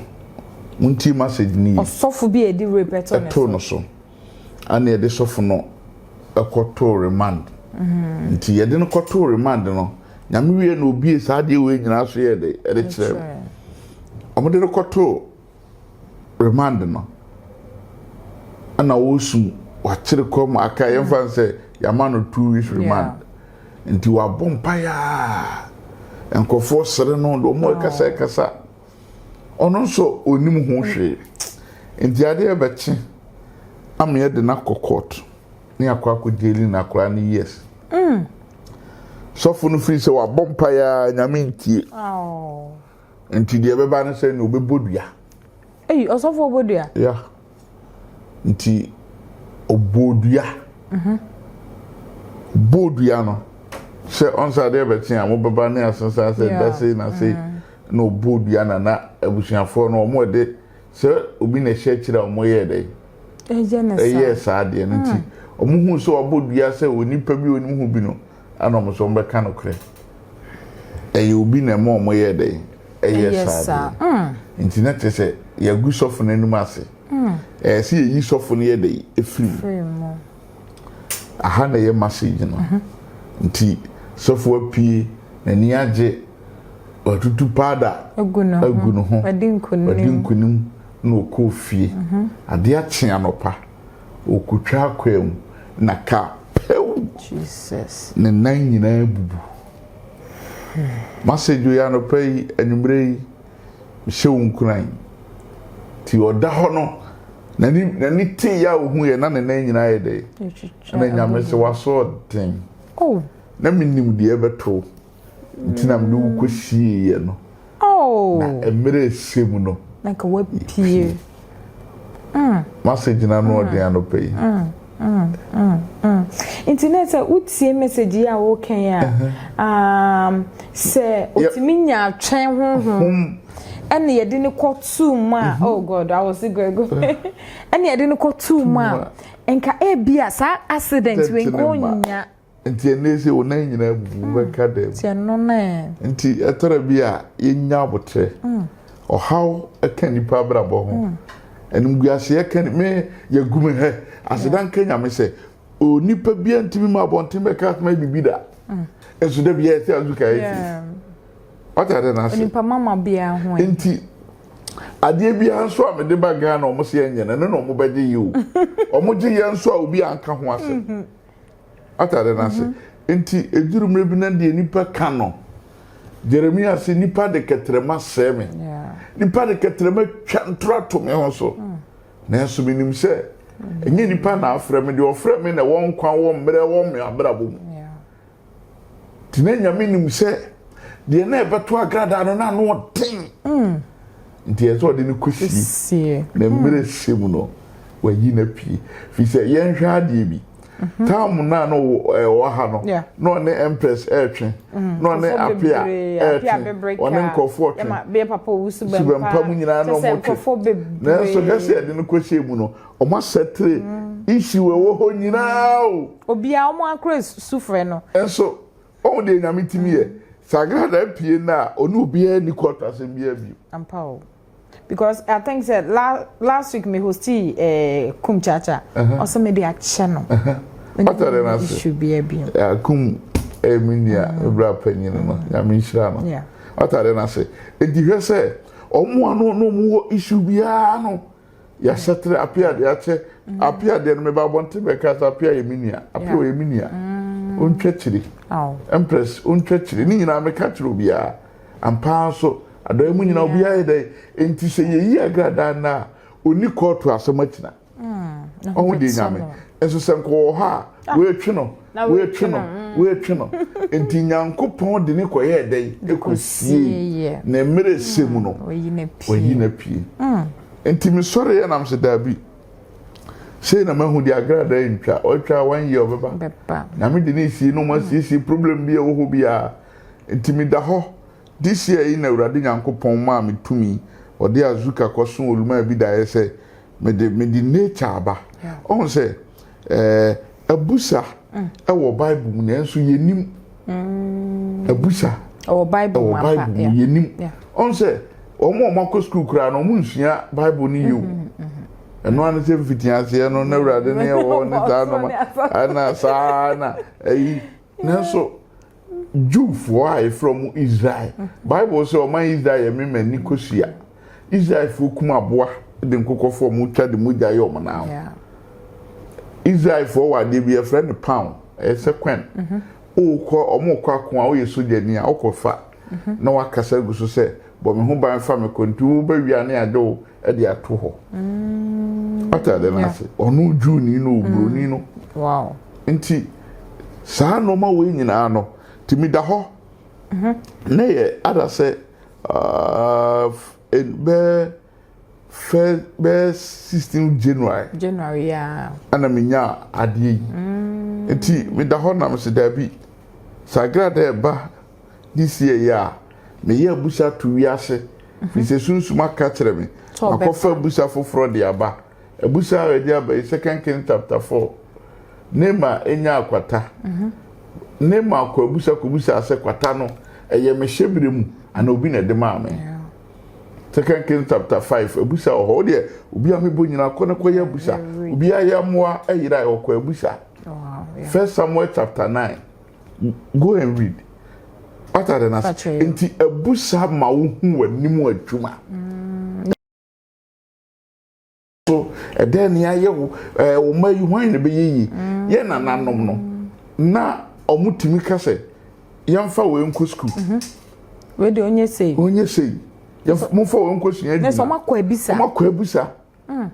S1: Montie message no yie. Ɔsɔfo bi a yɛde
S2: rape too no so. Too no so.
S1: Ɛna yɛde sɔfo no kɔtoo remand. Mm-hmm. Nti yɛde no kɔtoo remand no, nyame wie na obie saa adeɛ wei nyinaa so yɛ de ɛde kyerɛ no. Wɔde no kɔtoo remand no ɛna ɔresu wakyere kɔm aka yɛn fa sɛ yɛama no two weeks remand nti wabɔ mpaeɛ a nkurɔfoɔ sere no de wɔn ɛkasa ɛkasa ɔno nso onim ho hwee nti adeɛ bɛkye ama yɛde no akɔ court ne akɔ akɔ gyeli no akora no years mm. sɔfo no firi sɛ wabɔ mpaeɛ a nyame ntie oh. Nti deɛ ɛbɛba no sɛ na ɔbɛbɔ dua. Eyi ɔsɔfo
S2: ɔbɔ dua. Ya
S1: nti ɔbɔ dua. Mhm. Bɔ dua no sɛ ɔnsa deɛ bɛkye a mobɛba ne asesa sɛ da sei na sei mm. na ɔbɔ dua na na abusuafoɔ no wɔn ɛde sɛ obi na ɛhyɛ akyire a wɔn yɛ dɛ. Ɛyɛ saa deɛ no nti wɔn mm. hu sɛ wɔabɔ dua sɛ onipa bi onim ho bi no. Ɛna wɔn nso wɔbɛka nokorɛ. Ɛyɛ obi na ɛma wɔyɛɛ dɛn? Ɛyɛɛ saa deɛ. Nti na kyerɛ sɛ yɛagu sɔfo no anim ase. Ɛyɛ sɛ yɛyi sɔfo no yɛ dɛn? Ɛfiri mu. Aha na ɛyɛ message no. Nti sɔfo apue, n'ani agye, watutu powder agu ne
S2: ho,
S1: wadi nkunim na ɔkɔɔ fie. Adeɛ akye anɔpa. Ɔkɔtwa akwaa mu na kaa pɛw!
S2: Ne nan
S1: nyinaa bubu. M'asɛdwo yi anɔpa yi, anwummerɛ yi, mehyɛ wo nkuran. Nti ɔda hɔ no, n'ani tee yɛ a ɔhuiɛ na ne nan nyinaa ayɛ dɛ? Ɛna Nyame se, W'asoɔden! Na menim deɛ ɛbɛto wo. Nti na mede wo kɔsieeɛ no. Oh. Na mmerɛ ɛsɛ mu no. Na nka wapie.
S2: Mm. Masɛ
S1: gyina no ɔden mm. anɔpa yi. Mm. Mm, mm, mm.
S2: nti na sɛ wotie message yi a wokan a um, sɛ ɔtumi nya atwɛn honhom ɛne yɛde no kɔ tuu mu a oh god i was grego ɛne yɛde no kɔ tuu mu a nka ebi a saa accident wei nko nya Nti ɛnnɛ sɛ
S1: wo nan nyinaa abubu hmm. wobɛka dɛm. Nti ɛno no ɛ.
S2: Nti ɛtɔrɔ bi
S1: a yɛnya abotrɛ. Hmm. Ɔhaw ɛka nipa abrabɔ ho. Hmm. Animguaseɛ ɛka ni me yɛgu me hɛ. Aseda nka nyame sɛ onipa bi a ntumi ma abɔnten bɛka asoma yɛ biribi da. Ɛso da bi yɛ sɛ azuka yɛ ti. Ɔta dɛ n'ase. Onipa mama biara ho
S2: ɛ. Nti
S1: adeɛ biara nso a mede ba Ghana ɔmo sɛ ɛnyɛ no ɛno na ɔmo bɛgye yɛ o. Ɔmo gye yɛ nso a obi anka ho asɛm. Wate ade no ase? Enti eduru mmere bi na deɛ nnipa ka no, Jeremia se, nnipa de kɛtrɛma sɛe me. Nnipa de kɛtrɛma twa ntoro ato me ho so. Hmm. Nanso menim sɛ ɛnyɛ nnipa na afrɛ me, deɛ ɔfrɛ me na ɛwɔ nkwa wɔ mmerɛ wɔ me abrabɔ mu. Nti na Nyame nim sɛ deɛ na ɛbɛto agradaa no na ano ɔden. Nti ɛsɛ ɔde no kɔsie. Na mmerɛ hyɛ mu no, wayi no apue. Firi sɛ yɛnhwɛ adeɛ bi. Mhm. Tam no a na ɔwɔ ha no, na ɔne Empress ɛretwe, mm. na ɔne Apia ɛretwe, ɔne nkurɔfoɔ twe.
S2: Subɛmpa mu nyinaa na
S1: wɔtwe. Nanso hwɛ sɛ yɛde no kɔsie mu no, Ɔmo asɛtere issue ɛwɔ hɔ nyinaa o. Obia ɔmo akora
S2: sufrɛ no. Nso wahu
S1: deɛ Nyame tumi yɛ. Sɛ Agradaa pie
S2: no
S1: a ɔne obiara nni kɔɔto asɛm biara bio. Ampa o.
S2: Because I think sɛ last week me hostee eh, Kum Chacha. Ɔse mede akyɛ no. Ɔne obiara
S1: nni issue biara bio. Yeah,
S2: Kum
S1: ɛyɛ me nua, me bra panyini no. Nyame nhyira no. Wate adeɛ
S2: no ase.
S1: Enti hwɛ sɛ ɔmo a na ɔne ɔmo wɔ issue biara no Yɛahyɛ tere apia deɛ akyɛ apia deɛ no meba abɔnten bɛka sɛ apia yɛ me nua apia ɔyɛ me nua ɔntwa kyiri
S2: empress ɔntwa
S1: kyiri ne nyinaa meka kyerɛ obiara ampaa nso adan mu nyinaa obiara yɛ dɛn enti sɛ yɛyi agradaa no a ɔni kɔɔto asɛm akyina ɔho deɛ nyame nso sɛ nkɔwɔ hɔ a wɔatwe no woetwe no, woetwe no, ntsi Nyankopɔn dze no kɔyɛɛ dɛn? Kosiei, na mber a ɛsɛ mu no, oeyi no epue. Ntsi mesoɛree na mese, Dabi, sei na mahu, de agradaa entwa, ɔtwa a one year ɔbɛba, na me de no esie na wɔasiesie problem bi a ɔwɔ hɔ biara. Ntsi meda hɔ, this year yi na Ewuradze Nyankopɔn maa me tumii, Ɔdze Azuka kɔsoo Oluma Abida yɛ sɛ mede, mede nature aba. Ohun sɛ. abusa wɔ Bible mu nanso yɛnim mm. abusa
S2: wɔ Bible mu yɛnim
S1: ɔn sɛ wɔn a wɔakɔ sukuu koraa no wɔn nsua Bible no yie o mm-hmm, mm-hmm. ɛno ano sɛ mfiti aseɛ no na awurade ne ɛwɔ ne saa noma ɛna saa na ɛyi nanso. Jewfoɔ a yɛfrɛ ɔmo Israel. Bible sɛ ɔman Israel yɛ me m'ani kosua. Israelfoɔ kum aboa de nkokɔfoɔ ɔmo twa de mogya yɛ ɔmo nan ho. Israelfoɔ wɔ adeɛ bi yɛfrɛ no paw ɛyɛ sɛ kwen. Wokɔ ɔmo rekɔ ako a woyɛ sogyani a wokɔ fa na wakasa gu so sɛ bɔ me ho ban fa me kɔ nti wo bɛ wia ne ade o ɛde ato hɔ wata mm, ade no ase ɔno juni no oburoni mm. no nti saa nneɛma wei nyinaa no tumi da hɔ mm-hmm. na yɛ ada sɛ ah, bɛɛ fɛ bɛɛ sixteen january january yaa ɛna
S2: mi nya
S1: adeɛ yi mm. nti mi da hɔ nam si daabi sagra dɛ ba. de sieeɛ a, meyɛ abusa to wiase, firi sɛ sunsum aka akyerɛ me, makɔfa abusa foforɔ de aba. Abusa a ɔde aba yi, Second Kings chapter four, Naama nyaa kwata. Naama kɔ abusa kɔbusaa sɛ, kwata no, ɛyɛ me hyɛberɛ mu anaa obi na ɛde maa me? Second Kings chapter five, abusa wɔ hɔ. Wo deɛ, obi a mebɔ nyinaa, kɔ na kɔyɛ abusa. Obiara yɛ mmoa yera, ɔkɔ abusa. First Samuel chapter nine. Go and read. What are the nas? Nti ɛbu saa ma wo hu w'anim adwuma. Mm. So ɛdɛn ni ayɛ wo ɛɛ wɔn mma yi hwan na ɛbɛyɛ yie. Mm. Yɛ nananom no na wɔn tumi ka sɛ yɛnfa wɔn nkɔ sukuu. Mhm. Wei de
S2: onye sei. Onye sei. Yɛn
S1: mo nfa wɔn nkɔ sua adwuma. Ne sɛ wɔn akɔ abisa.
S2: Wɔn akɔ abisa.
S1: Mm.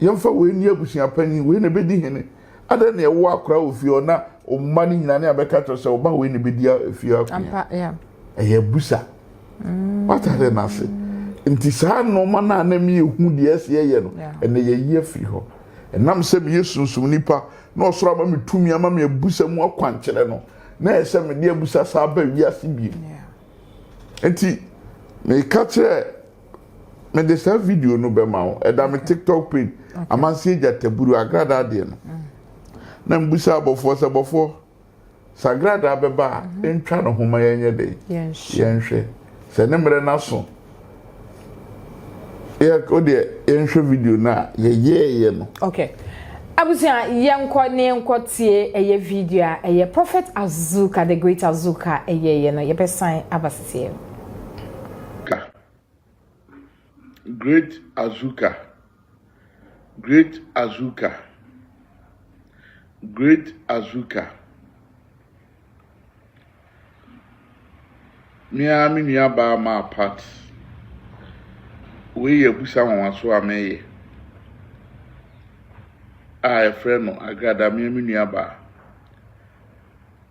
S1: Yɛmfa wei ni abusua panyin, wei na ɛbɛdi hene. Adɛn na ɛwɔ akora wɔ fie hɔ na ɔma no nyina ne abɛka kyerɛ sɛ ɔba wei na ɛbɛdi fie akonya. Ɛyɛ busa. Mm. Watade no ase. Nti saa nnoɔma no a na meyɛhu deɛ ɛsɛ yɛyɛ no, ɛnɛ yɛyi afiri hɔ. Ɛnam sɛ meyɛ sunsum nipa na ɔsoro ama me tumi ama me abusa mu akwankyerɛ no, na ɛyɛ sɛ mede abusa saa ba wiase biem. Nti meka kyerɛ mede saa video no bɛma wo ɛda me tiktok page amanseɛ gyataburu agradaa deɛ no mm. na mbusa abɔfoɔ sɛ bɔfoɔ sɛ agradaa bɛba a mhm. ntwa no ho ma yɛnyɛ dɛ yɛnhwɛ sɛ ne mmerɛ no aso wodeɛ yɛnhwɛ video no a yɛyɛɛyɛ no okay
S2: abusua yɛnkɔ ne yɛnkɔ tie ɛyɛ video a ɛyɛ prophet azuka the great azuka ɛyɛɛyɛ no yɛbɛsan aba seseɛ Ka.
S1: Great Azuka Great Azuka Great Azuka Me ara me nua baa maa part. Wei yɛ abusa nwanwaso a mɛyɛ a ɛfrɛ no agrada me me nua baa.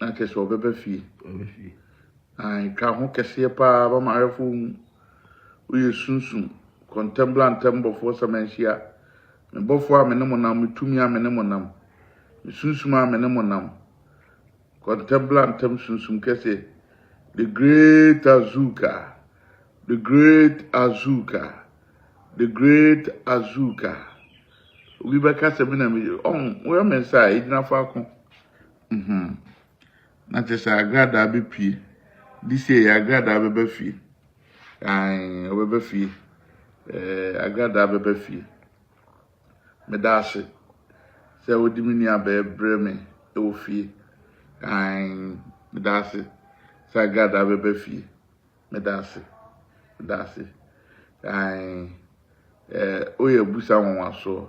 S1: na kyerɛ sɛ ɔbɛba fie na ɛtwa ho kɛseɛ paa ma mawerɛfoɔ hu woyɛ sunsum kɔntɛmbla ntɛmbɔfoɔ sɛ manhyia me bɔfoɔ a me ne mo nam me tumi a me ne mo nam me sunsum a me ne mo nam kɔntɛmbla ntɛm sunsum kɛseɛ the great azuka the great azuka The great Azuka. Obi bɛka sɛ me na me ɔn woyɛ me nsa a egyina faako. Mhm. Na kyerɛ sɛ agradaa bepue. This year yɛ agradaa bɛba fie. Ae ɔbɛba fie. Ɛɛ agradaa bɛba fie. Meda ase sɛ wode me nua bɛɛ brɛ me wɔ fie. Ae meda ase sɛ agradaa bɛba fie. Meda ase. Meda ase. Ae. Ɛɛ, woyɛ abusa nwanwasoɔ.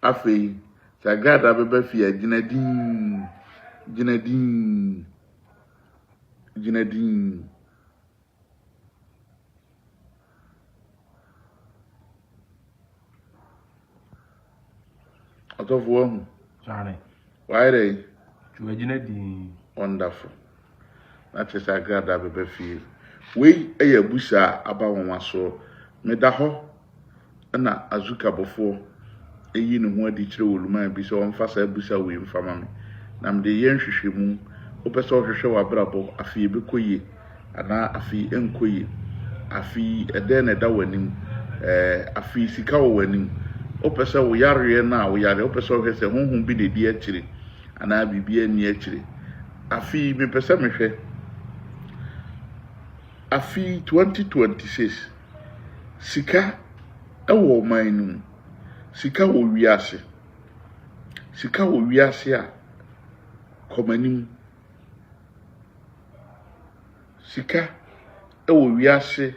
S1: Afei, Sagrada bɛba fie a, gyina dinn. Gyina dinn. Gyina dinn. Ɔtɔfo wahu. Sane.
S4: Wayɛ dɛ yi.
S1: Ti wagyina dii.
S4: Wonderful.
S1: Na kyerɛ sɛ agradaa bɛba fie. Wei yɛ abusa a aba nwanwa soɔ. Meda hɔ na Azuka bɔfoɔ yi ne ho adi kyerɛ Oluman bi sɛ ɔmfa saa abusa wei mfa ma me. Na mede yɛ nhwehwɛmu. Wopɛ sɛ ɔhwehwɛ w'abrabɔ, afei ɛbɛkɔ yie. anaa afei ɛnkɔ yie, afei ɛdɛn na ɛda w'anim, ɛɛ afei sika wɔ w'anim, wopɛ sɛ wo yareɛ no a wo yareɛ, wopɛ sɛ wohwɛ sɛ honhom bi na ɛdi akyire anaa biribi anni akyire, afei mepɛ sɛ mehwɛ, afei 2026 sika ɛwɔ ɔman no mu, sika wɔ wiase, sika wɔ wiase a kɔmanim. sika wɔ wiase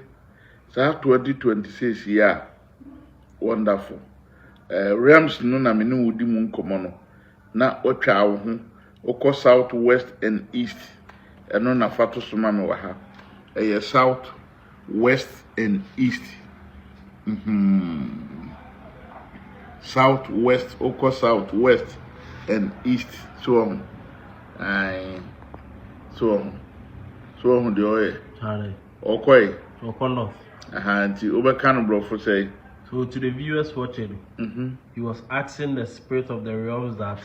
S1: saa twenty twenty six yi a wonderful eh, rems no na me ne wo di mu nkɔmmɔ no na watwa wo ho wokɔ south west and east ɛno na fa to so ma me wɔ ha ɛyɛ south West and East hmm South West wokɔ South West and East so wɔ ho ae so wɔ ho so wɔ ho deɛ ɔyɛ Charlie, ɔkɔe Oko North.
S4: aha nti
S1: wobɛka no borɔfo sɛe So to the viewers
S4: watching, mhm he was asking the spirit of the realms that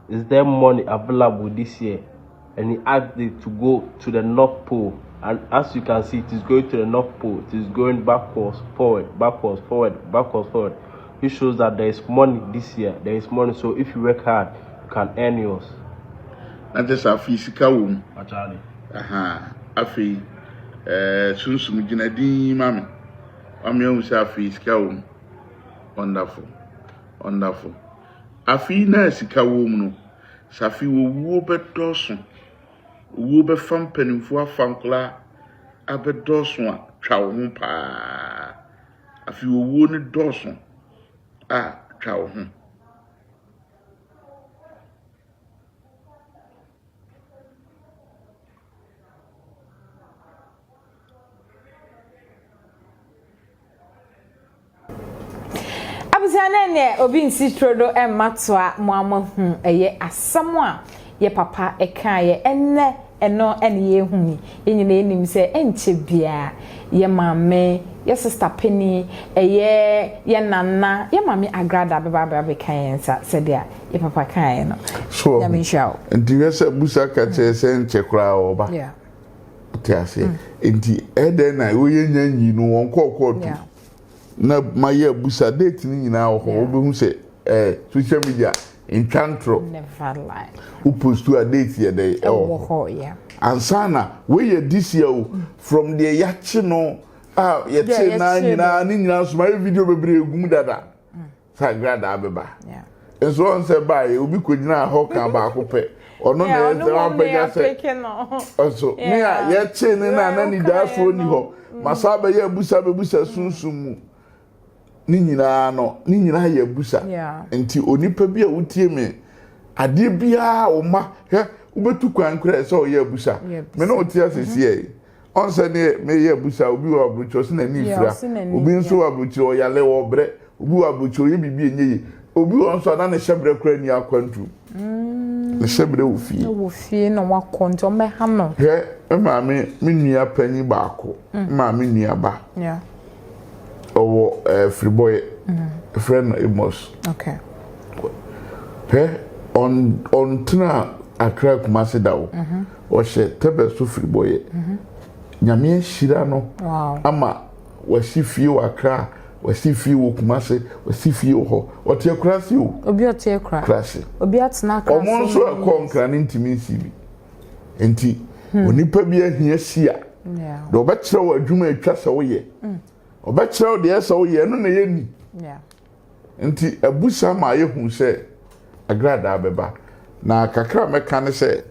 S4: Is there money available this year and he asked it to go to the north pole and as you can see it is going to the north pole it is going backwards forward backwards forward backwards forward which shows that there is money this year there is money so if you work hard you can earn yours na kyɛ
S1: sɛ afei sika wɔ mu aha afei ɛɛ eh, sunsum gyina din yi ma me wame ahu sɛ afei sika wɔ mu wonderful wonderful Afe yi na a sika wom no, sɛ afei owuo bɛdɔɔso, owuo bɛfa mpanimfoɔ afa nkwadaa abɛdɔɔso a, twa wo ho pa ara. Afei owuo no dɔɔso a, twa wo ho.
S2: Abusua no ɛnɛ obi nsi turo do ɛmma toa mo ama hu ɛyɛ asɛm a yɛ papa ɛkaa yɛ ɛnɛ ɛno ɛne yɛ hu yi yɛ nyina yɛ nim sɛ ɛnkyɛ bia yɛ maame yɛ sista pɛni ɛyɛ yɛ nana yɛ maame agrada bɛba abɛ abɛka yɛ nsa sɛdeɛ yɛ papa kaa yɛ no nyame nhyira wo.
S1: Nti
S2: hwɛ sɛ busa
S1: ka kyerɛ sɛ ɛnkyɛ koraa ɔba. Yeah.
S2: Te
S1: aseɛ mm. nti ɛdɛn na woyɛ nya nyi no wɔn kɔɔ kɔɔto yeah. na mayɛ abusa date no nyinaa wɔ hɔ yeah. wobɛhu sɛ eh, social media ntwa ntorɔ
S2: wopostu a
S1: date yɛ dɛ ɛwɔ hɔ
S2: ansa na
S1: woyɛ this year o mm. from deɛ yɛakye no a yɛte naa nyinaa ne nyinaa so mayɛ video bebree gum dada sagradaa bɛba nso wɔn
S2: sɛ
S1: baayɛ obi kogyinaa hɔ kan baako pɛ ɔno na yɛ sɛ wapɛgya sɛ ɔso ne a yɛkyee ne na na ne daasoɔ ni hɔ mm. ma saa bɛyɛ abusa bɛbusa mm. sunsun mu ne nyinaa no ne nyinaa yɛ abusa nti onipa bi a wotie me adeɛ biara wo ma hwɛ wobɛtu kwan korɛ sɛ ɔyɛ abusa me ne wote asɛsiɛ Ɔn sɛ neɛ meyɛ abusa, obi wɔ aburokyire ɔse n'ani fira, obi nso wɔ aburokyire ɔyale, ɔbrɛ, obi wɔ aburokyire ɔyɛ biribi ɛnyɛ yie, obi wɔ nso a na ne hyɛbrɛ koraa nni akwantuo. Ne hyɛbrɛ wɔ fie. Ɛwɔ fie na wakɔ nti ɔmmɛha
S2: no. Hwɛ me maame
S1: me nua panyin baako, me maame nua ba. Ɔwɔ ɛɛ Firibɔyɛ. Yɛfrɛ no Amos.
S2: Hwɛ
S1: ɔn ɔntena Accra Kumasi da o. Ɔhyɛ tɛbɛ so firibɔyɛ. Nyame ahyira no ama wasi fie wɔ Accra, wasi fie wɔ Kumasi, wasi fie wɔ hɔ. Ɔte Akura ase o. Obi ɔte Akura. Akura
S2: ase. Obi atena
S1: Akura ase.
S2: Wɔn nso ɛkɔ Nkra
S1: ne ntumi nsi bi. Nti hmm. onipa bi ahia si a. Deɛ ɔbɛkyerɛ wɔ adwuma atwa sɛ woyɛ. Ɔbɛkyerɛ hmm. wo deɛ ɛsɛ woyɛ ɛno na ɛyɛ ni. Nti abu saa ma ayɛ hu sɛ agradaa bɛba. Na kakra a mɛka ne sɛ,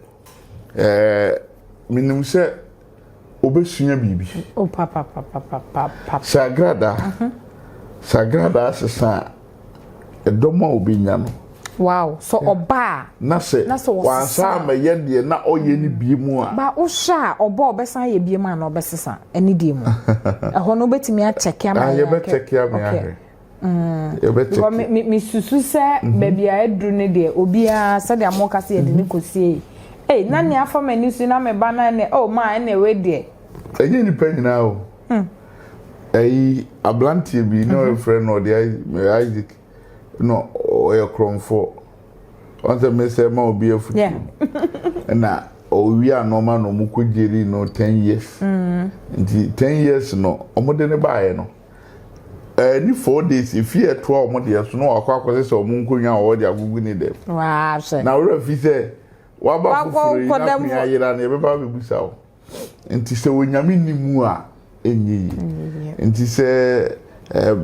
S1: ɛɛ menim sɛ wobɛsua biribi. O oh,
S2: papapapapapa. Sɛ
S1: agradaa, mhm. sɛ agradaa sesa a, ɛdɔm a obɛnya no. Wow, so
S2: ɔba a. Na sɛ
S1: wansa amɛyɛ deɛ na ɔyɛ ne bie mu a. Ba wohyɛ a ɔba
S2: a ɔbɛsan ayɛ bie mu a na ɔbɛsesa ɛne deɛ mu. Ɛhɔ no wobɛtumi akyɛke ama yɛn. Yɛbɛkyɛke ama yɛn ahwɛ.
S1: Mm.
S2: mesusu sɛ mhm. baabi a aduru no deɛ obiara sɛdeɛ moka sɛ yɛde ne mhm. kɔsie yi ei na nea afa m'ani so na meba no ɛnɛ o oh, ma ɛnɛ wei deɛ ɛnyɛ nnipa
S1: nyinaa o hmm. ɛyi aberanteɛ bi na mhm. ɔyɛfrɛ no ɔde isaac na ɔyɛ korɔmfoɔ ɔn sɛ mesɛ ma obi afutu ɛna ɔwie anɔma na ɔmo kɔ gyeri no ten years hmm. nti ten years no ɔmo de ne baeɛ no Ɛɛdi four days efi ɛtoa wɔn deɛ so na wakɔ akɔsɛ sɛ wɔn nkonnwa a wɔde agugu ne dɛm. Waa sɛ. Na wura
S2: fi sɛ
S1: waba foforɔ yi na kun ayera no yɛbɛba abɛbusa wo. Nti sɛ onyame nni mu a ɛnyɛ yi. Nti sɛ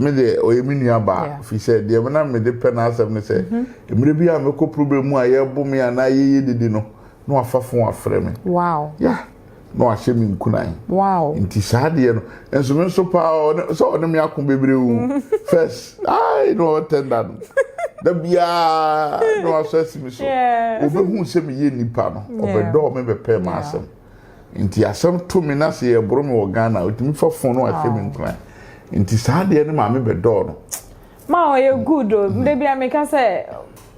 S1: me deɛ ɔyɛ me nua baa fi sɛ deɛ me na mede pɛ n'asɛm ne sɛ mmerɛ bi a mɛkɔ problem mu a yɛbo me anaa yɛyɛ dede no na wafa fon afrɛ me. Wow. Yeah.
S2: na wahyɛ
S1: me nkunan wow nti saa
S2: deɛ no
S1: nso me nso paa sɛ ɔne me ako bebree o first ai na ɔtɛnda no da biara na wasɔ asi me so ɔbɛhu sɛ meyɛ nnipa no ɔbɛdɔɔ me bɛpɛɛ ma asɛm nti asɛm to me na sɛ yɛboro me wɔ ghana ɔtumi fa fon no wahyɛ me nkunan nti saa deɛ no maame bɛdɔɔ no Ma ɔyɛ
S2: good o mm-hmm. da bia meka sɛ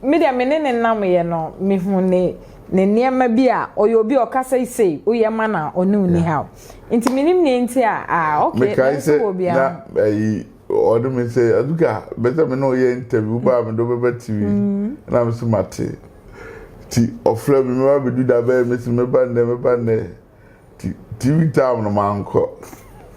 S2: me deɛ me ne ne nam yɛ no mehu ne ne nneɛma bi a ɔyɛ obi a ɔka sɛ sei woyɛ ma na ɔne wo ni haw nti menim nea nti a ah ok nanso wɔ bia na
S1: ayi ɔne me sɛ aduka bɛsɛ me ne ɔyɛ interview baa me do bɛba tv mm. na me so mate nti ɔfrɛ me mɛba bɛdu da bɛyɛ me se mɛba nnɛ mɛba nnɛ TV time no mankɔ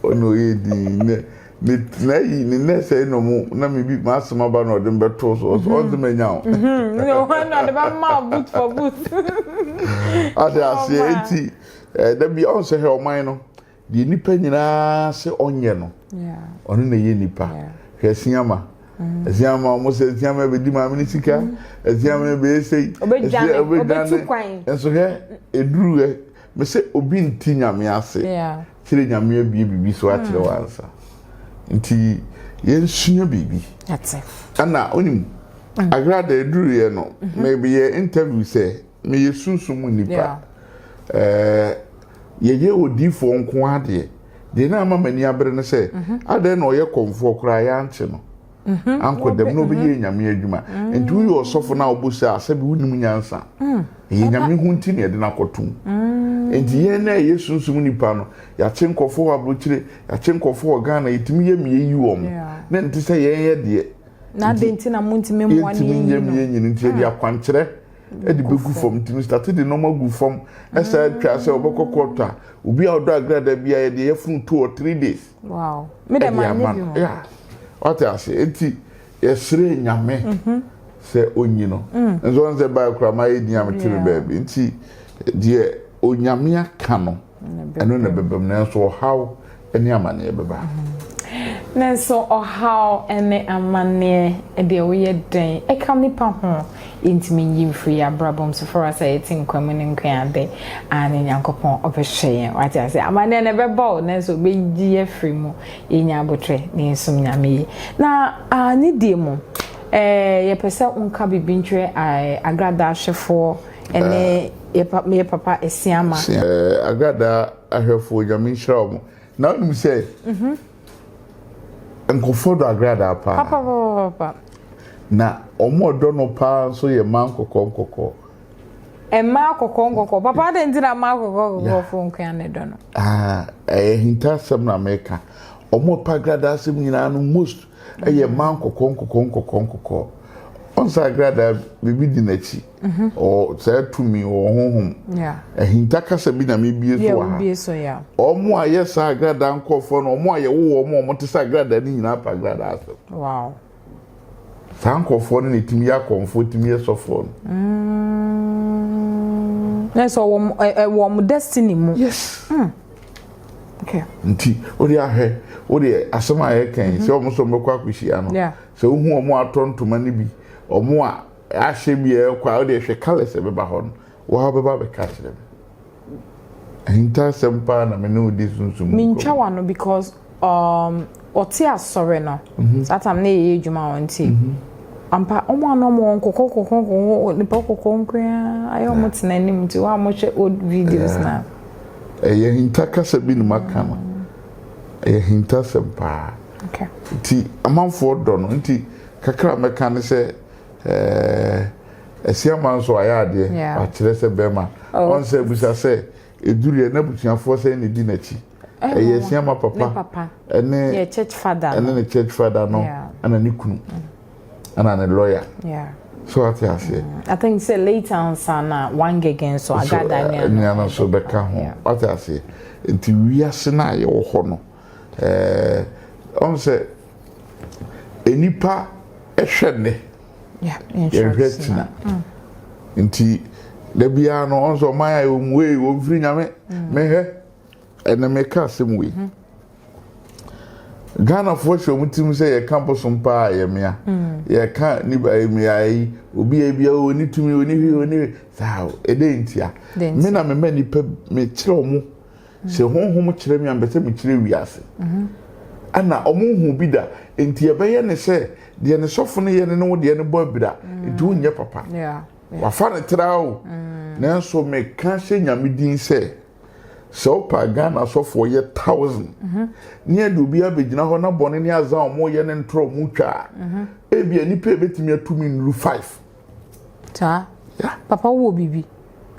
S1: ɔna ɔyɛ din ne ne na yi ne nɛ sɛ na ɔmo na mi bi ma asɛm aba na ɔde mi bɛ to so ɔsɛ ɔn sɛ mɛ nya o. ɔhɔn na
S2: ɔde bɛ ma o boot for boot.
S1: ɔde aseɛ eti ɛɛ dabi ɔn sɛ hɛ ɔman no deɛ nipa nyinaa sɛ ɔnyɛ no ɔno na ɛyɛ nipa hwɛ siama. ɛsɛ ama wɔn sɛ ɛsɛ ama ɛbɛdi maame ne sika ɛsɛ ama ɛbɛyɛ sɛ yi ɛsɛ ɔbɛdwane
S2: nso hɛ
S1: eduru hɛ mesɛ obi nti nyame ase kyerɛ nyame abie biribi so akyerɛ mm. wansa nti yɛnsua biribi
S2: ɛna onim mm.
S1: agrada eduru yɛ no mebɛyɛ mm-hmm. interview sɛ Meyɛ sunsum mu nnipa. Ɛɛ, yɛyɛ odiifoɔ nko ara deɛ. Deɛ na ama m'ani abere ne sɛ, mhm. adɛn na ɔyɛ kɔmfoɔ koraa yɛankye no mhm. ankɔ dɛm na ɔbɛyɛ mhm. nyame adwuma. Nti woyɛ ɔsɔfo na wobɔ sɛ asɛ bi wonim nyansa. Mm. Ɛyɛ nyame ho nti na yɛde no akɔtom. Mm. Nti yɛn na ɛyɛ sunsum nipa no, yɛakye nkɔfoɔ wɔ aburokyire, yɛakye nkɔfoɔ wɔ Ghana, yɛtumi yɛ mmea yi wɔn. Na nti sɛ yɛn yɛ deɛ. Na adɛn nti
S2: na montumi mmoa ne yɛnyini no? Yɛntumi nyɛ mmea nyini nti yɛde ah.
S1: akwankyerɛ. de bɛgu fam nti me starte de nɔɔma gu fam ɛsɛ atwa sɛ wɔbɛkɔ kɔɔtɔ a obi a ɔdɔ agrada bi a yɛde yɛfunu two or three days ɛde
S2: ama no wate
S1: ase nti yɛsrɛ nyame mhm. sɛ onyi no mm. nso wɔn sɛ baa kura ma yɛ din a mete me baabi nti deɛ onyame aka no. ɛno na ɛbɛba mu nanso ɔhaw ne amanneɛ bɛba nanso
S2: ɔhaw ne amanneɛ deɛ woyɛ dɛn ɛka nipa ho yɛntumi nyi mfiri yɛ abrabɔ mu soforo asɛ yɛte nkwa mu ne nkwa ade a ne nyankopɔn ɔbɛhwɛ yɛn wate ase amanneɛ na ɛbɛba o nanso ɔbɛyi afiri mu yɛnya abotrɛ ne yɛsom nyame yi na ne die mu yɛpɛ sɛ wonka biribi ntwerɛ agradaa hwɛfoɔ Ɛne yɛ pa me yɛ papa Asiama. Eh, Agradaa
S1: ahwɛfoɔ Nyame nhyira wɔn. Na wonim sɛ mhm. nkɔfoɔ dɔ Agradaa paa. Papa papa papa.
S2: Na
S1: wɔn ɔdɔ no paa nso yɛ mmaa nkɔkɔɔ nkɔkɔɔ.
S2: Mmaa nkɔkɔɔ nkɔkɔɔ papa adɛn nti na mmaa nkɔkɔɔ nkɔkɔɔ fo nkoa ne dɔ no. Ah, ɛyɛ hintasɛm na mɛka.
S1: Wɔn ɔpa Agradaa asɛm nyinaa no most Ɛyɛ mmaa nkɔkɔɔ nkɔkɔɔ nkɔkɔɔ nkɔkɔɔ. Ɔnsa agradaa biribi di n'akyi. Mhm. Ɔ saa tumi wɔ honhom. Ahinta kasa bi na mebie so wɔ ha. Wɔn
S2: a yɛ saa
S1: agradaa nkɔɔfoɔ no wɔn a yɛwo wɔn a wɔte sɛ agradaa no nyinaa pa agradaa so. Wow. Saa nkɔɔfoɔ no na ɛtumi yɛ akɔmfoɔ ɛtumi yɛ sɔfoɔ no. Mm.
S2: Na ɛsɛ wɔn wɔn destiny mu. Yes. Mm. Nti
S1: wode ahwɛ wodeɛ asɛm a yɛka yi sɛ wɔn sɛ wɔbɛkɔ akɔhyia no sɛ wohu wɔn atɔ ntoma no bi wɔn a ahyɛ bi a ɛkɔ a wodeɛ hwɛ colours ɛbɛba hɔ no waa wobɛba bɛka kyerɛ me ahintasɛm paa na me ne wodi sunsum mu nkɔmmɔ. Mentwa w'ano because
S2: Um, ɔte asɔre no. Mhm. Saa tam na yɛyɛ adwuma wɔn nti. Mhm. Ampa, wɔn a na wɔn wɔn kɔkɔ kɔkɔ kɔkɔ nipa kɔkɔ nkoa ayɛ wɔn tena anim nti wɔn a wɔhwɛ old videos na. Ɛyɛ
S1: hinta kasa bi na maka no. Ɛyɛ hinta sɛm paa. Okay. Nti
S2: amanfoɔ
S1: dɔ no nti kakra mɛka ne sɛ ɛɛ asiama nso ayɛ adeɛ akyerɛ sɛ bɛrima ɔnsɛ bisa sɛ eduru yɛ n'abusuafoɔ sɛ ne di n'akyi. ɛyɛ sua ma papa ɛne ne church father ɛne
S2: ne church father
S1: no ɛna ne kunu ɛna ne lawyer so ate aseɛ. Mm. i think say later
S2: ansa na one gegen so agada ne ano nneɛma nso bɛka
S1: ho ate aseɛ nti wiase no a yɛwɔ hɔ no ɛɛ ɔn sɛ nnipa ɛhwɛ nnɛ yɛhwɛ tina mm. nti dabiara no ɔn sɛ ɔman a ɛwɔ mu wei wɔn firi nyame mehwɛ. Mm. ɛnɛ meka asɛm wei hmm. ghanafoɔ hyɛ ɔmo tirim sɛ yɛka bosom paa a yɛmea hmm. yɛka nipa mmeae yi obi a bia ɔni tumi ɔni hwi ɔni hwi saa ɛdɛ ntia me na me ma nipa mekyerɛ ɔmo hmm. sɛ honhom kyerɛ me a mpɛ sɛ mekyerɛ wiase mhm. ɛna ɔmo hu bi da nti ɛbɛyɛ ne sɛ deɛ ne sɔfo no yɛ ne ne wo deɛ ne bɔ abira nti wonyɛ papa wafa ne tra o nanso meka hyɛ nyame din sɛ sɛ wopa Ghana asɔfoɔ yɛ thousand ne yɛde obi abɛgyina hɔ na bɔne ne aza a wɔyɛ ne ntorɔ wɔn twa a mhm. ebi a nipa ebetumi atumi nnuru five. saa
S2: papa wo wɔ biribi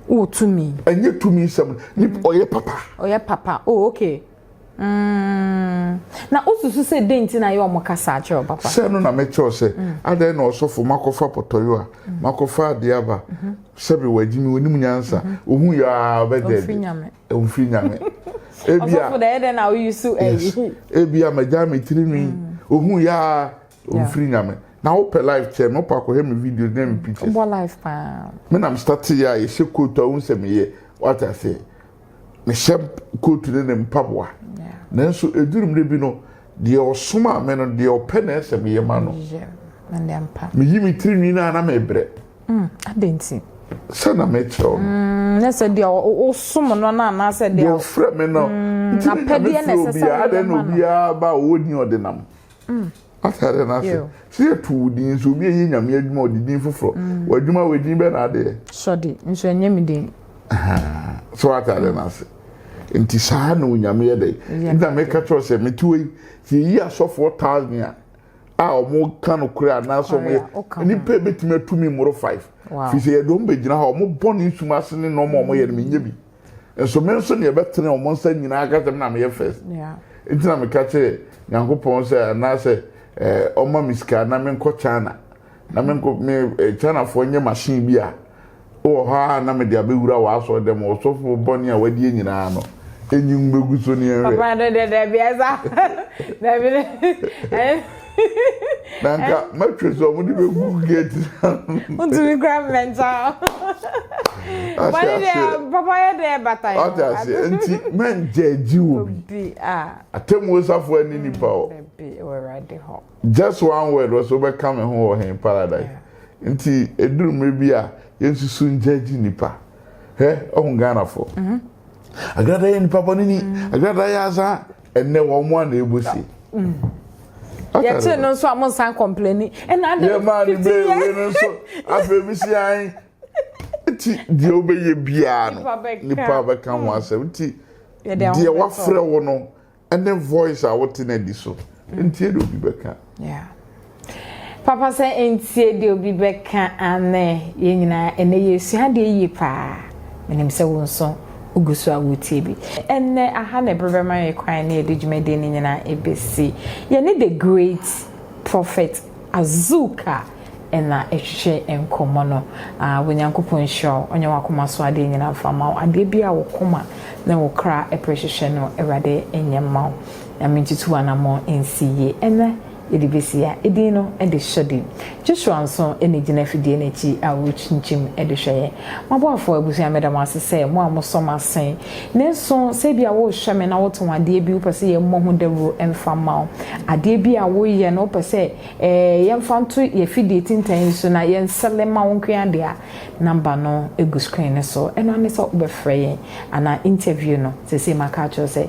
S2: wɔ tumi. ɛnyɛ tumi nsɛm mhm.
S1: ɔyɛ papa. ɔyɛ papa oh okay.
S2: Mm, na wosusu sɛ dɛn nti na yɛ wɔn kasa akyerɛ wo papa? Sɛ no na mekyerɛw sɛ,
S1: mm. adɛn na ɔsɔfo makɔfa pɔtɔyo a, mm. makɔfa adeɛ aba, mm-hmm. sɛbe wagye me onim nyansa, mm-hmm. ohu yɛ a bɛdɛ bi, omfiri nyame. Ebia, ɔsɔfo dɛ ɛdɛn na woyi
S2: so ayi? Ebia magya
S1: me tiri nwi, mm. ohu yɛ a Mfiri nyame. Na wo pɛ life kyɛn me, wo pɛ akɔhwɛ me videos ne me pictures. Wobɔ life paa.
S2: Me na me start yɛ
S1: a, yɛhyɛ coat a, wohu sɛ meyɛ, wate aseɛ. Mehyɛ coat ne ne mpaboa. Nanso ɛduru mmerɛ bi no, deɛ ɔsomaa me no, deɛ ɔpɛ na ɛsɛ meyɛ ma no. Meyi me tiri nwi no a, na mebrɛ. Mm, adɛn nti?
S2: Sɛ na
S1: mekyerɛ wo no. Mm, ne sɛ deɛ
S2: wosom no no anaasɛ deɛ. Deɛ ɔfrɛ me no.
S1: Mm, apɛdeɛ
S2: na ɛsɛ sɛ woyɛ ma no. Adɛn na obiara
S1: ba a ɔwɔ din ɔde nam. Mm. ate ade no ase sɛ yɛto wo din nso obi ɛyɛ nyame adwuma ɔde din foforɔ mm. w'adwuma wɔ din bɛ na adeɛ sɔde nso ɛnyɛ
S2: me din so
S1: ate ade no ase nti saa na onyame yɛ dɛ nti na meka kyerɛ sɛ metewa yi sɛ yɛyi asɔfoɔ thousand a a wɔn ka no kura anaasɛ wɔn yɛ nipa ebetumi atumi mmoro five fi sɛ yɛde wɔn bɛgyina hɔ wɔn bɔ ne nsum ase ne nneɛma wɔn yɛ no menyɛ bi. Nso me nso deɛ bɛtene wɔn nsa nyinaa aka sɛ na meyɛ first. Nti na meka kyerɛ Nyankopɔn sɛ anaasɛ eh, ɔma me sika na menkɔ China. Na menkɔ me eh, Chinafoɔ nyɛ machine bi a wɔ hɔ a na mede abɛwura w'asɔre dɛm ɔsɔfo bɔne a wadie nyinaa no. Enyi mbɛgu so ne ɛnhwɛ. Papa no deɛ daabi
S2: ɛsa. Daabi ne.
S1: na nka mɛtwe sɛ ɔmo de bɛ gu gate na. ntumi
S2: kura mmɛnta wɔn deɛ papa yɛ deɛ bata yɛ ɔte aseɛ nti
S1: mɛnkyɛ gyi wɔ bi atɛmuo safo ani nipa hɔ
S2: just one word
S1: wɔsɛ wobɛka me ho wɔ hen paradise nti ɛduru mmerɛ bi a yɛnsusu nkyɛ gyi nipa hɛ ɔho ghanafoɔ agrada yɛ nipa bɔne ni agrada yɛ asaa ɛnɛ wɔn mo ana ebu si.
S2: yɛkye no nso a mo nsan kɔmplɛni ɛna adi fifty years. yɛ maa ni bee wei
S1: no nso afei mi si an ti deɛ wobɛyɛ biara no nipa bɛka ho asɛm ti deɛ wafrɛ wo no ɛne voice a wote na di so nti ɛna obi bɛka. Yeah.
S2: Papa sɛ ntie deɛ obi bɛka anɛ yɛn nyinaa ɛnɛ yɛsua adeɛ yie paa menim sɛ wo nso wogu so a wotie bi ɛnɛ aha na ɛberɛ bɛma yɛ kwan ne yɛde dwumadie no nyinaa ɛbɛsi yɛne the great prophet azuka ɛna ɛhwehwɛ nkɔmmɔ no ah, wɔ nyankopɔn nhyira wo ɔnyɛ wakoma so adeɛ nyinaa mfa ma wo adeɛ bi a wo koma ne wo kra ɛpere hwehwɛ no awurade ɛnyɛ ma wo Na mentutu anammɔn nsi yi ɛnnɛ de bɛsi a edin no de hyɛ den. Joshua nso na ɛgyina afidie no akyi a ɔrekyinkyim de hwɛ yɛn. M'aboafoɔ abusua meda mo ase sɛ mo a mosɔ m'asen. Nanso sɛ ebia worehwɛ me na wotɔn adeɛ bi wopɛ sɛ yɛmmɔ ho dawuro mfa mma wo. Adeɛ bi a woyɛ no wopɛ sɛ ɛɛ yɛmfa nto y'afidie tintan yi so na yɛnsɛle mma wo nko ara deɛ a, number no gu screen no so. Ɛno ara ne sɛ wobɛfrɛ yɛn anaa interview no seesei maka akyerɛ wo sɛ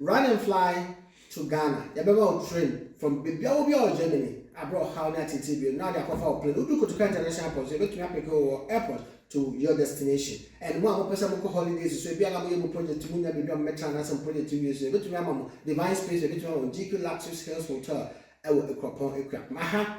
S3: Run and fly to Ghana, yɛbɛma wo train from baabiara wɔ biara wɔ Germany a berɛ a ɔhaw ne ateetee bio no na wɔde akɔfa wo plane. Wodu Kotoka International Airport nso yɛbɛtumi apeke wo wɔ airport to your destination. And mo a mopɛ sɛ mokɔ holidays nso, ebia na moyɛ mo project, monnya baabi a mobɛtra anaasɛ mo project nwie nso a, yɛbɛtumi ama mo Divine Space, yɛbɛtumi ama mo GQ Luxuries Hills Hotel wɔ Akuapɔn, Akuapem. Aha